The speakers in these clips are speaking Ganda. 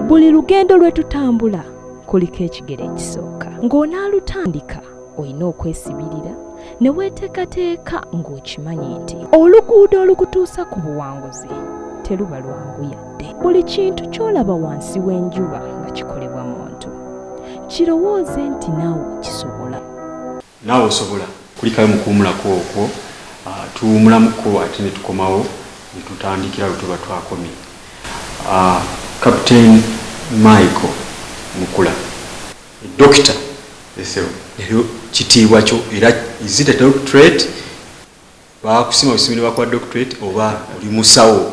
buli lugendo lwe tutambula kuliko ekigero ekisooka ng'onaalutandika olina okwesibirira ne weeteekateeka ng'okimanyi nti oluguudo olukutuusa ku buwanguzi teruba lwangu yadde buli kintu ky'olaba wansi w'enjuba nga kikolebwa muntu kirowooze nti naawe okisobola Naawe osobola. Kulikayo mu kuwumulako okwo, tuwumulamuko ate ne tukomawo ne tutandikira we tuba twakomye. Captain Michael Mukula, Dokita Ethel leero kitiibwa kyo era is it a doctorate? Baakusima busimi ne bakuwa doctorate oba oli musawo?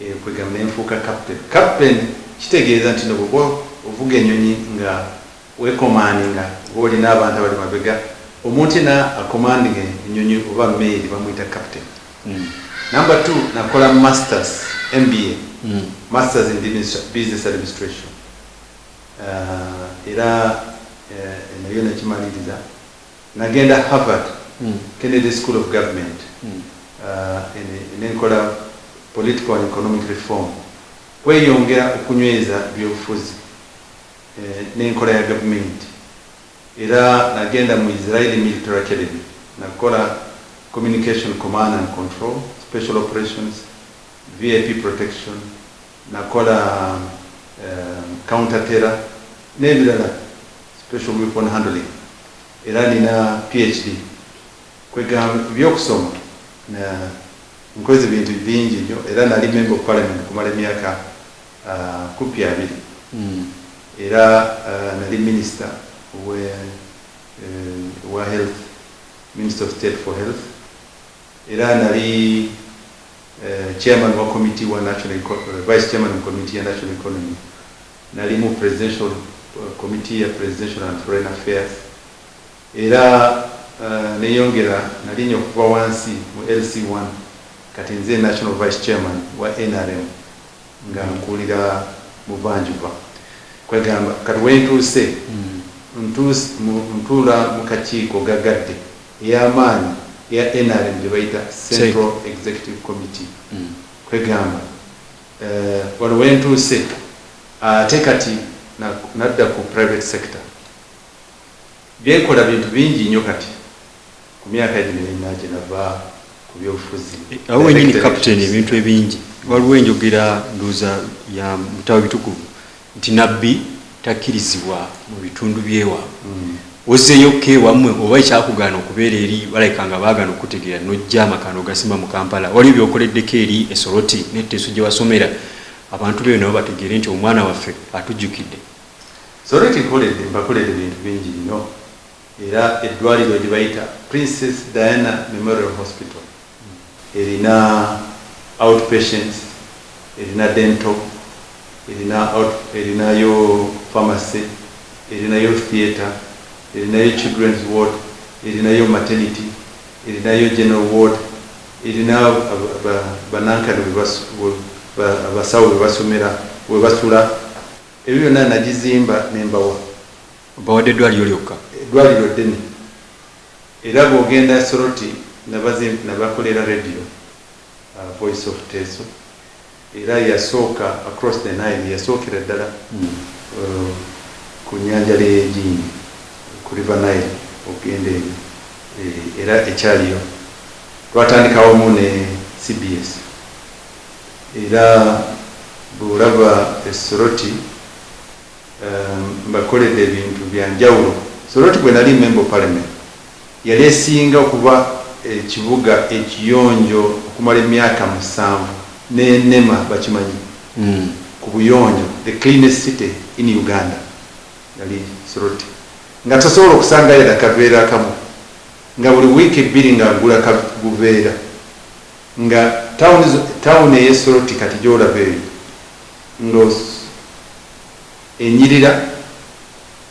Ekwega nenfuuka captain. Captain kitegeeza nti no bwoba ovuga enyonyi nga wekomandinga oba olina abantu abali mabega omuntu yena akomandinga enyonyi oba meeri bamuyita captain. Number two nakola masters MBA masters in business administration era eno yo nagimaliriza. Nagenda Harvard Kennedy School of Government ne nkola Political and Economic Reform, kweyongera okunyweza ebyobufuzi n'enkola ya gavumenti. Era nagenda mu Israeli Military Academy nakola Communication Command and Control, Special Operations, VIP Protection, nakola counter terror nebirala special weapon handling era nina PHD kwegamba ebyokusoma nkoze bintu bingi nyo era nali member of parliament okumala emyaka kupi abiri era nali minister owa health, minister of state for health, Era nali chairman wa committee wa national economy, vice chairman mu committee ya national economy, nali mu presidential committee ya presidential and foreign affairs, era neyongera nalinya okuva wansi mu LC one, kati nze national vice chairman wa nrm nga nkuulira buvanjuba. Kwegamba kati wentuuse ntuula mu kakiiko gagadde. ey'amaanyi eya nrm gye bayita Central Executive Committee kwegamba eh, wano we ntuuse ate kati nadda ku private sector byenkola bintu bingi nnyo kati ku myaka gino ena gye nava ku byobufuzi eh, awo wenyini captain ebintu ebingi waliwo enjogera nduuza ya mutawe bitukuvu Nti Nabbi takkirizibwa mu bitundu by'ewaabwe. Ozzeeyo okka ewammwe oba ekyakugaana okubeera eri balaka nga baagaana okukutegeera n'ojja amaka n'ogasimba mu Kampala? Waliyo by'okoleddeko eri e Soroti ne Teso gye wasomera abantu b'eyo nabo bategeere nti omwana waffe atujjukidde? Soroti nkoledde mbakolera ebintu bingi nnyo. era eddwaliro lyebayita Princess Diana Memorial Hospital erina outpatients, erina dental, erina out erinayo pharmacy, erinayo theatre, erinayo children's ward, erinayo maternity, erinayo general ward, erina ba banankani webasu we ba abasawo webasomera webasula ebyo byonna nagizimba nembawa Bawadde eddwaliro lyokka. Eddwaliro ddene era bwogenda Soroti nabazimp nabakolera radio voice of Teso era yasooka across the Nile yasookera ddala ku nyanja leyejiini ku river Nile okugenda eyo era ekyaliyo twatandika wamu ne cbs era bwolaba e Soroti. Mbakoledde ebintu bya njawulo. Soroti bwe nali Member of Parliament yali esinga okuba ekibuga ekiyonjo okumala emyaka musanvu n'enema bakimanyi ku buyonjo the cleanest city in Uganda yali Soroti nga tosobola okusangayo yadde akaveera akamu nga buli wiiki bbiri nga agula ka buveera nga town eye Soroti kati gy'olaba eyo nga Enyirira,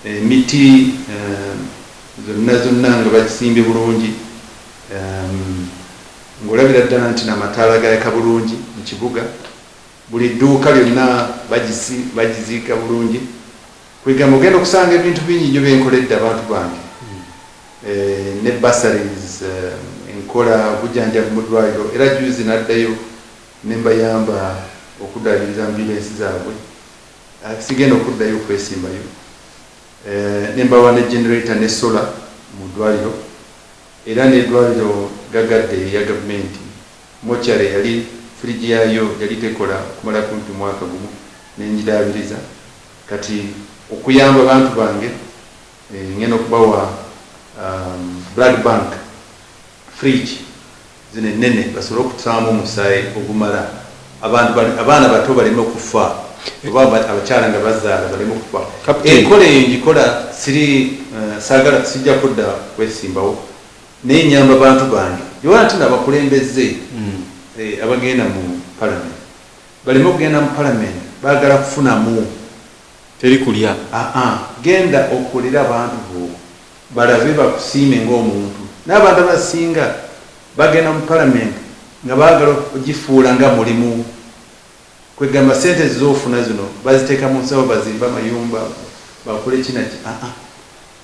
emiti zonna zonna nga bagisimbye bulungi ng'olabira ddala nti n'amataala gayaka bulungi mu kibuga. Buli dduuka byonna bagiziika bulungi. Kwegamba ogenda okusanga ebintu bingi nnyo bye nkoledde abantu bange ne bursaries, enkola obujanjabi mu ddwaliro era jjuuzi naddayo. ne mbayamba okuddaabiriza mu bizinensi zaabwe, sigenda okuddayo kwesimbayo, ne mbawa ne generator ne solar mu ddwaliro era n'eddwaliro ggagadde erya gavumenti, mortuary yali fridge yaayo yali tekola okumala kumpi mwaka gumu ne ngidaabiriza, kati okuyamba bantu bange ngenda okubawa blood bank. fridge zino ennene basobole okutaamu omusaayi ogumala abantu abaana bato baleme okufa oba abakyala nga bazaala baleme okufa enkola eyo ngikola siri eh, saagala sijja kudda kwesimbawo naye nyamba bantu bange yewala nti nabakulembeze hmm. eh, abagenda mu palamenti baleme okugenda mu palamenti baagala kufunamu teri kulya ah, ah. genda okolera abantu bo balabe bakusiime ng'omuntu. Naye abantu abasinga bagenda mu palamenti nga baagala okugifuula nga mulimu. Kwegamba ssente z'ofuna zino baziteeka mu nsawo bazimbe amayumba, bakole ki na ki? Aa,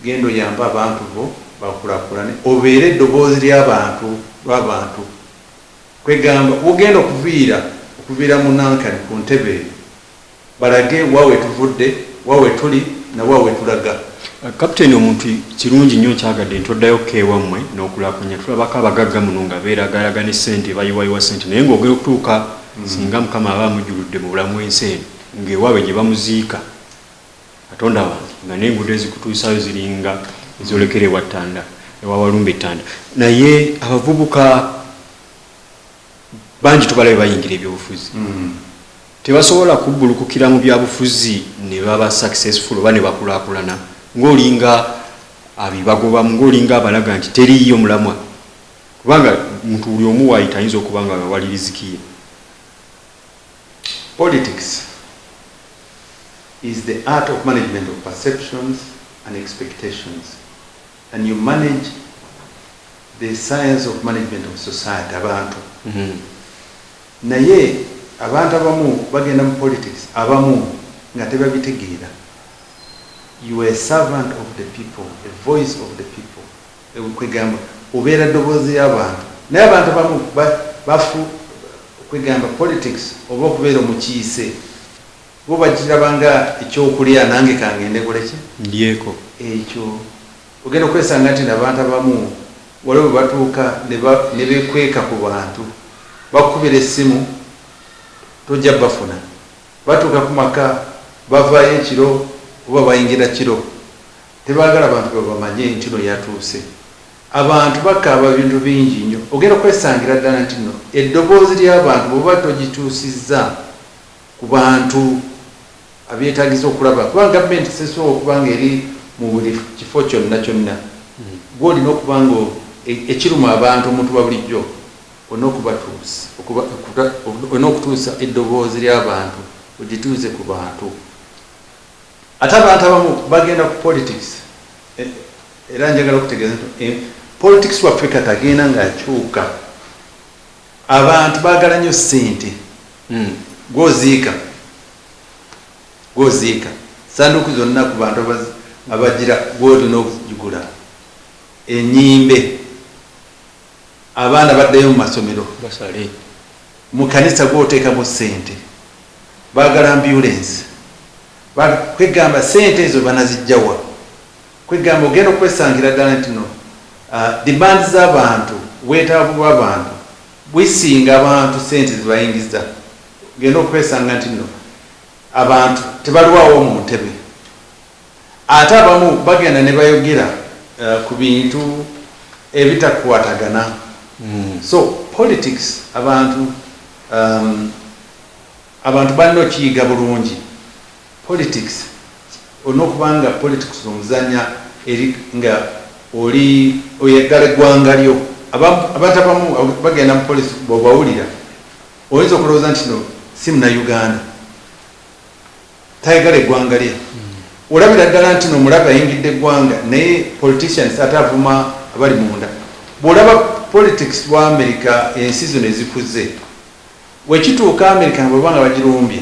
genda oyambe abantu bo bakulaakulane obeere eddoboozi ly'abantu, lw'abantu. Kwegamba w'ogenda okuviira, okuviira mu Nankani ku ntebe eyo. Balage wa wetuvudde, wa wetuli na wa wetulaga. Captain omuntu kirungi nyo nkyagadde nti oddayo ko ewammwe nokulakunya tulabako abagagga muno nga beragaraga ne sente bayiwayiwa sente naye nga ogenda okutuuka singa mukama aba amujjuludde mu bulamu ensi eno nga ewabwe gyebamuziika katonda wange nga nenguudo ezikutuusayo ziringa ezolekera ewa ttanda ewa walumbe ttanda naye abavubuka bangi tubalabe bayingira ebyobufuzi mm. Tebasobola kubbulukukira mu byabufuzi ne baba successful oba ne bakulaakulana ng'olinga abibagobamu, ng'olinga abalaga nti teriiyo mulamwa kubanga muntu buli omu waayita ayinza okuba nga we wali riziki ye. Politics is the art of management of perceptions and expectations and you manage the science of management of society, abantu. Naye abantu abamu bagenda mu politics abamu nga tebabitegeera you are a servant of the people a voice of the people ewe kwegamba obeera ddoboozi lyabantu naye abantu abamu bafu kwegamba politics oba okubeera omukiise bo bakiraba nga ekyokulya nange kangende nkoleki ndyeko ekyo Ogenda okwesanga nti nabantu abamu waliwo bwebatuuka nebekweka ku bantu bakukubira essimu tojja bafuna, batuuka ku maka bavaayo ekiro oba bayingira kiro tebagala bantu babamanye nti no yatuuse. Abantu bakaaba ebintu bingi nnyo ogenda okwesangira ddala nti no eddoboozi lyabantu bwoba togituusizza. ku bantu abyetaagisa okulaba kuba gavumenti sesobola okuba ng'eri mu buli kifo kyonna kyonna gwe olina okuba nga ekiruma abantu omuntu wabulijjo olina okubatuusa olina okutuusa eddoboozi ly'abantu ogituuze ku bantu ate abantu abamu bagenda ku politics e, era njagala okutegeeza nti e, politics waffe kati agenda ng'akyuka Abantu bagala nyo sente gwoziika gwoziika sanduuku zonna ku bantu abajira gwolina okugigula enyimbe abaana baddeyo mu masomero basale mu kanisa gwotekamu sente bagala ambulensi kwegamba sente ezo banazijjawa? Kwegamba ogenda okwesangira dala nti no demand za bantu, obwetaavu bwa bantu bwisinga abantu sente zebayingiza, ogenda okwesanga nti no abantu tebalwawo mu ntebe ate abamu bagenda nebayogera ku bintu ebitakwatagana so politics abantu abantu balina okiyiga bulungi. Politics olina okuba nga politics omuzanya eri nga oli oyagala egwanga lyo abantu abamu bagenda mu policy bwobawulira oyinza okulowoza nti no si muna Uganda tayagala egwanga lye olabira ddala nti no mulabe ayingidde egwanga naye politicians ate avuma abali munda bwolaba politics wa America ensi zino ezikuze wekituuka America bwebanga bagirumbye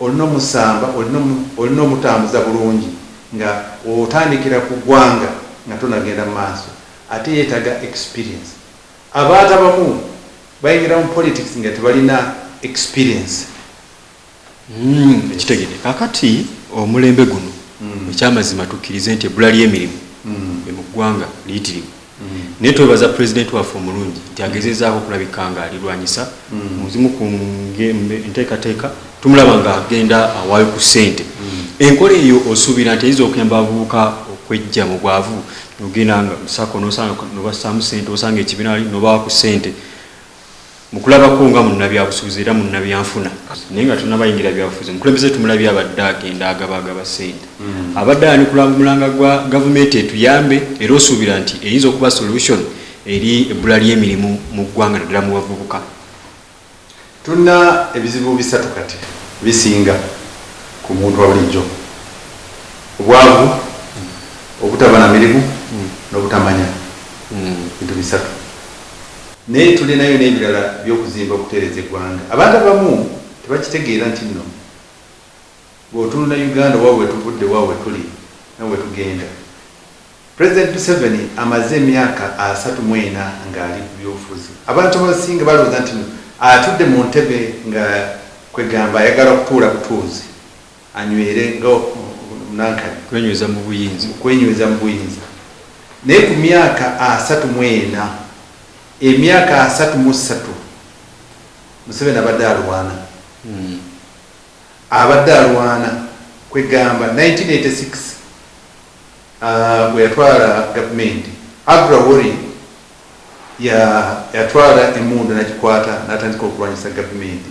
Olina omusamba, olina omutambuza bulungi nga otandikira ku gwanga nga tonagenda mu maaso ate yetaga experience. Abantu abamu bayingira mu politics nga tebalina experience. Uhmm nkitegede kakati omulembe guno ekyamazima tukirize nti ebbula lyemirimu mu gwanga liyitirivu. naye twebaza pulezidenti waffe omulungi nti agezezaako okulabika nga alirwanyisa mu zimu ku nteekateeka tumulaba nga agenda awaayo ku ssente enkola eyo osuubira nti eyinza okuyamba abavubuka okwejja mu bwavu nogenda nga musako nobassaamu ssente osanga ekibiina wali nobawa ku ssente Mukulabako nga munnabyabusubuzi era munnabyanfuna naye nga tonabayingira byabufuzi omukulembeze tumulabye abadde agenda agabagaba sente mm. abadde ayanukula mulanga gwa gavumenti etuyambe era osuubira nti eyinza okuba solution eri ebbula ly'emirimu mu ggwanga naddala mu bavubuka tulina ebizibu bisatu kati bisinga ku muntu wabulijjo obwavu obutaba na mirimu mm. n'obutamanya mm. bintu bisatu Naye tulinayo nebirala byokuzimba okutereza egwanga abantu abamu tebakitegeera ntinno bwotunula Uganda oba wetuvudde wa wetuli no wetugenda president Museveni amaze emyaka asatu mu ena nga ali kubyobufuzi abantu abasinga balowooza ntino atudde muntebe nga kwegamba ayagala kutuula butuuzi. Anywere nga Munankani. Kwenyweza mu buyinza. Mu kwenyweza mu buyinza. Naye ku myaka asatu mu ena, emyaka asatu mu ssatu Museveni abadde alwana. Abadde alwana kwegamba 1986 bwe yatwala gavumenti, Agra Warrior yatwala emmundu nagikwata natandika okulwanyisa gavumenti.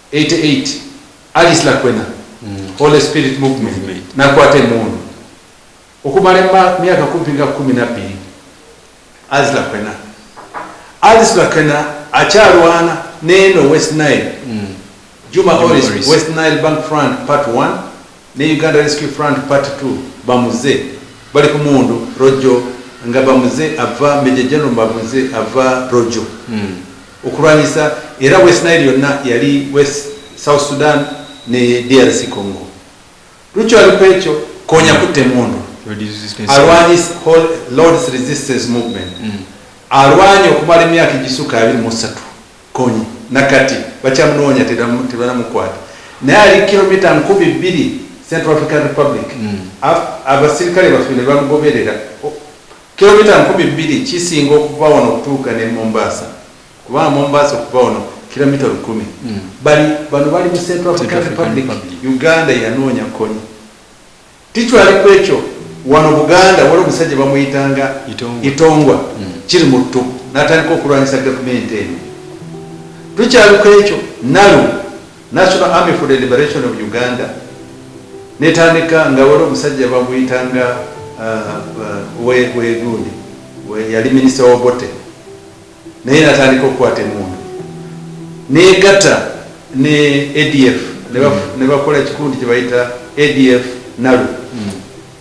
Eighty eight Alice Lakwena Holy Spirit Movement nakwata emundu okumala emma myaka kumpi nga kumi nabbiri Alice Lakwena Alice Lakwena akyalwana neeno West Nile Juma Oris West Nile Bank Front Part One Ne Uganda Rescue Front Part Two bamuze bali ku mundu Rojo nga bamuze ava Major General bamuze ava Rojo okulwanyisa era West Nile yonna yali West South Sudan ne DRC Congo. Rucho ali kwekyo konya kutta emundu alwanyis whole Lord's Resistance Movement alwanye okumala emyaka egisuka abiri mu satu. Kony nakati bakyamunoonya tebanamukwata naye ali kilometer nkubi bbiri Central African Republic abasirikale baffe nebamugoberera kilometer nkubi bbiri kisinga okuva wano okutuuka ne Mombasa kubanga Mombasa okuva wano kilometer lukumi bano bali mu Central African Republic Uganda yanoonya Kony. Tikyali kwekyo wano Buganda waliwo omusajja bamuyitanga Itongwa Kirimuttu natandika okulwanyisa gavumenti eno. Tukyali kwekyo NALU, National Army for the Liberation of Uganda, netandika nga waliwo omusajja bamuyitanga Owegundi yali minister wa Obote. naye natandika okukwata emundu negata ne adf nebakola mm. kikundi kyebayita adf nalu mm.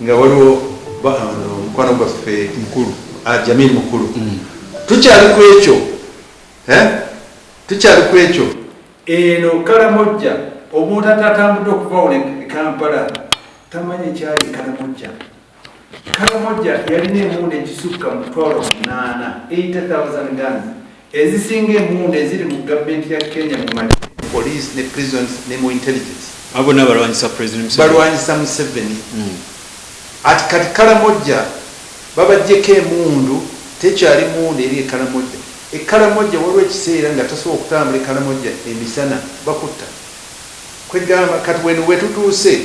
nga waliwo mukwano gwaffe mukulu ah, jamil mukulu mm. tukyali ku ekyo eh? tukyali ku ekyo eno kalamojja omuntu atatambudde okuvawo ne kampala tamanyi kyali kalamojja Karamoja yalina emundu ekisukka mu mutwalo munaana, 80,000 guns, ezisinga emundu eziri mu government ya Kenya mu magye, police ne prisons ne mu intelligence. Abo bonna balwanyisa president Museveni. Balwanyisa Museveni. At kati Karamoja babajjeko emundu, tekyali mundu eri e Karamoja. E Karamoja waliwo ekiseera nga tasobola kutambula e Karamoja emisana bakutta. Kwegamba kati weno wetutuuse.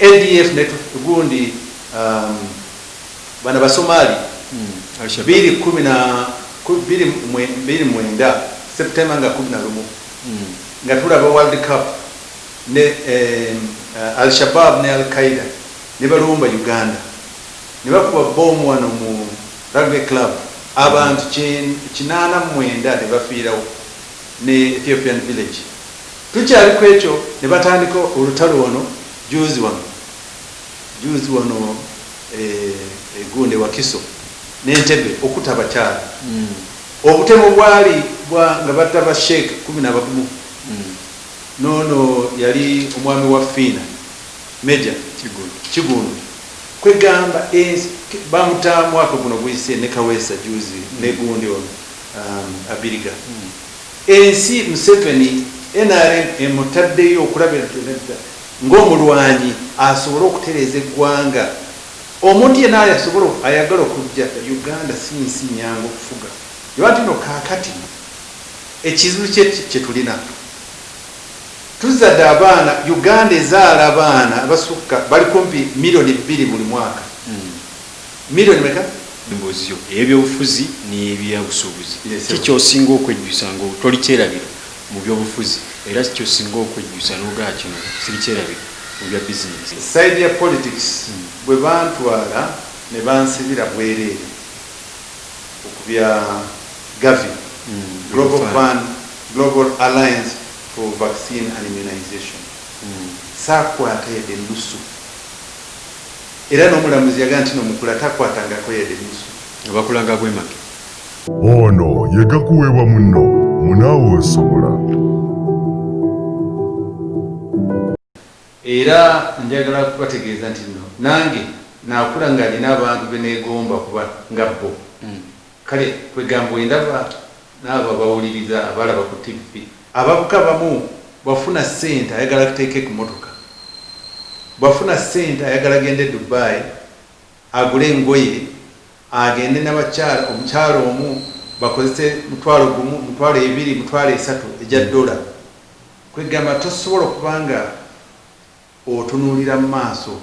ADF ne gundi bana basomali bili kumi na bili mwenda September nga kumi na lumu nga tulaba world cup ne Al Shabaab ne Al Qaeda ne balumba Uganda ne bakuba bbomu wano mu Rugby club abantu kinaana mu mwenda ne bafiirawo ne Ethiopian village Tukyali kwekyo ne batandika olutalo wano juuzi wano juuzi wano e Gunda e Wakiso ne Ntebbe okuta abakyala. Obutemu bwali bwa nga batta ba Sheikh kumi na bamu n'ono yali omwami wa Fiina Major Kigundu kwegamba ensi bamuta mwaka guno guyise ne Kaweesa juuzi ne gundi ono Abiriga. Ensi Museveni nrm emutaddeyo okulabira nti nedda ng'omulwanyi asobole okutereeza eggwanga. Omuntu yenna ayasobola ayagala okujja Uganda si nsi nnyangu okufuga. Lwaki nno kaakati ekizibu kye kye tulina tuzzadde abaana, Uganda ezaala abaana abasukka bali kumpi million bbiri buli mwaka. Million meka? Emboozi yo ey'ebyobufuzi n'ey'ebyabusuubuzi ki ky'osinga okwejjusa nga toli kyerabiro mu byobufuzi era ki ky'osinga okwejjusa n'ogamba kino siri kyerabiro mu bya bizinensi? Side ya politics bwe bantwala ne bansibira bwereere ku bya Gavi, Global Fund, Global Alliance for Vaccine and Immunization, saakwata yadde ennusu. Era n'omulamuzi yagamba nti n'omukula takwatangako yadde nusu. Nga bakulanga abwemage. Ono ye gakuweebwa munno mu naawe osobola. Era njagala kubategeeza nti nno nange nakula nga nina abantu beneegomba okuba nga bbo. Kale kwegamba bwendaba naabo abawuliriza, abalaba ku ttivvi. Abavuka abamu bwafuna sente ayagala ateeke ku motoka, bwafuna sente ayagala agende Dubai agule engoye agende nabakyala, omukyala omu bakozese mutwalo gumu, mutwalo ebiri, mutwalo esatu egya dollar. Kwegamba tosobola okuba nga otunuulira mu maaso.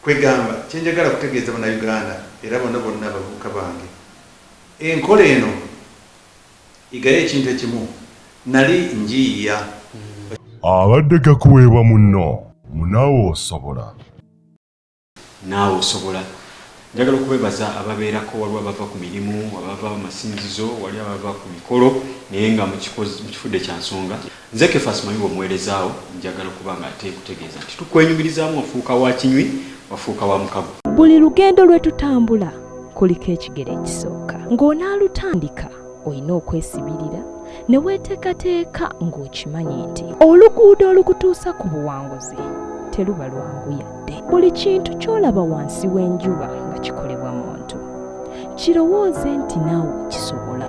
Kwegamba kyenjagala kutegeeza bana Uganda era bona bonna abavubuka bange enkola eno, Yigayo ekintu ekimu nali njiiya. Abadde gakuweebwa munno mu Naawe Osobola. Naawe Osobola. Njagala okubeebaza ababeerako, waliwo abava ku mirimu, abava mu masinzizo, wali abava ku mikolo naye nga mukifudde kya nsonga. Nze Kefas Mayuba omuweereza wo, njagala okuba nga ate nkutegeeza nti tukwenyumirizaamu ofuuka wa kinywi, wafuuka wa mukago. Buli lugendo lwe tutambula kuliko ekigero ekisooka. Ng'onaalutandika olina okwesibirira ne weeteekateeka ng'okimanyi nti oluguudo olukutuusa ku buwanguzi teruba lwangu yadde. Buli kintu ky'olaba wansi w'enjuba nga kikolebwa muntu kirowooze nti naawe okisobola.